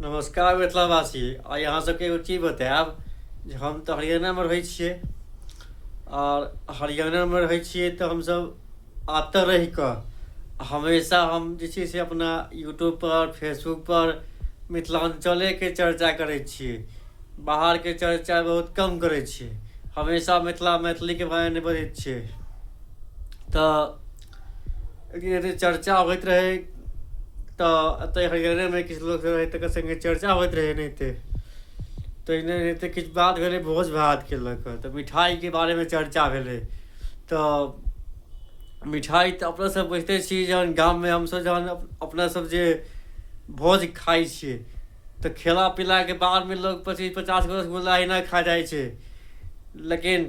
नमस्कार मिथिलावासी आइ अहाँ सबके एगो चीज बतायब जे हम तऽ हरियाणामे रहै छियै आओर हरियाणामे रहै छियै तऽ हमसब एतऽ रहि कऽ हमेशा हम जे छै से अपना यूट्यूबपर फेसबुकपर मिथिलाञ्चलेके चर्चा करै छियै बाहरके चर्चा बहुत कम करै छियै हमेशा मिथिला मैथिलीके बारेमे बजै छियै तऽ लेकिन यदि चर्चा होइत रहै तऽ एतऽ हरियरेमे किछु लोक रहै तकर सङ्गे चर्चा होइत रहै एनाहिते तहिने एनाहिते किछु बात भेलै भोज भातके लऽ कऽ तऽ मिठाइके बारेमे चर्चा भेलै तऽ मिठाइ तऽ अपनासभ बुझिते छी जहन गाममे हमसभ जहन अपनासभ जे भोज खाइ छियै तऽ खेला पीलाके बादमे लोक पच्चीस पचास गो रसगुल्ला एहिना खा जाइ छै लेकिन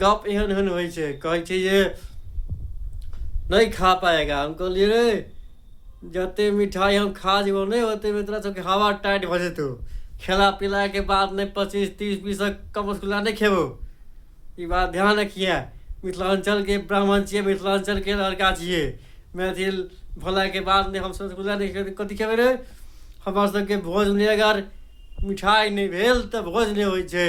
गप एहन एहन होइ छै कहै छै जे नहि खा पाएगा हम कहलियै रे जते मिठाइ हम खा जेबौ नहि ओते तोरा सबके हवा टाइट भऽ जेतौ खेला पिलाके बाद नहि पच्चीस तीस बीसक कम रसगुल्ला नहि खेबौ ई बात ध्यान रखिए मिथिलाञ्चलके ब्राह्मण छियै मिथिलाञ्चलके लड़का छियै मैथिल भेलाके बाद नहि हमसभ रसगुल्ला नहि खेबै कथी खेबै रे हमर सबके भोज नहि अगर मिठाइ नहि भेल तऽ भोज नहि होइ छै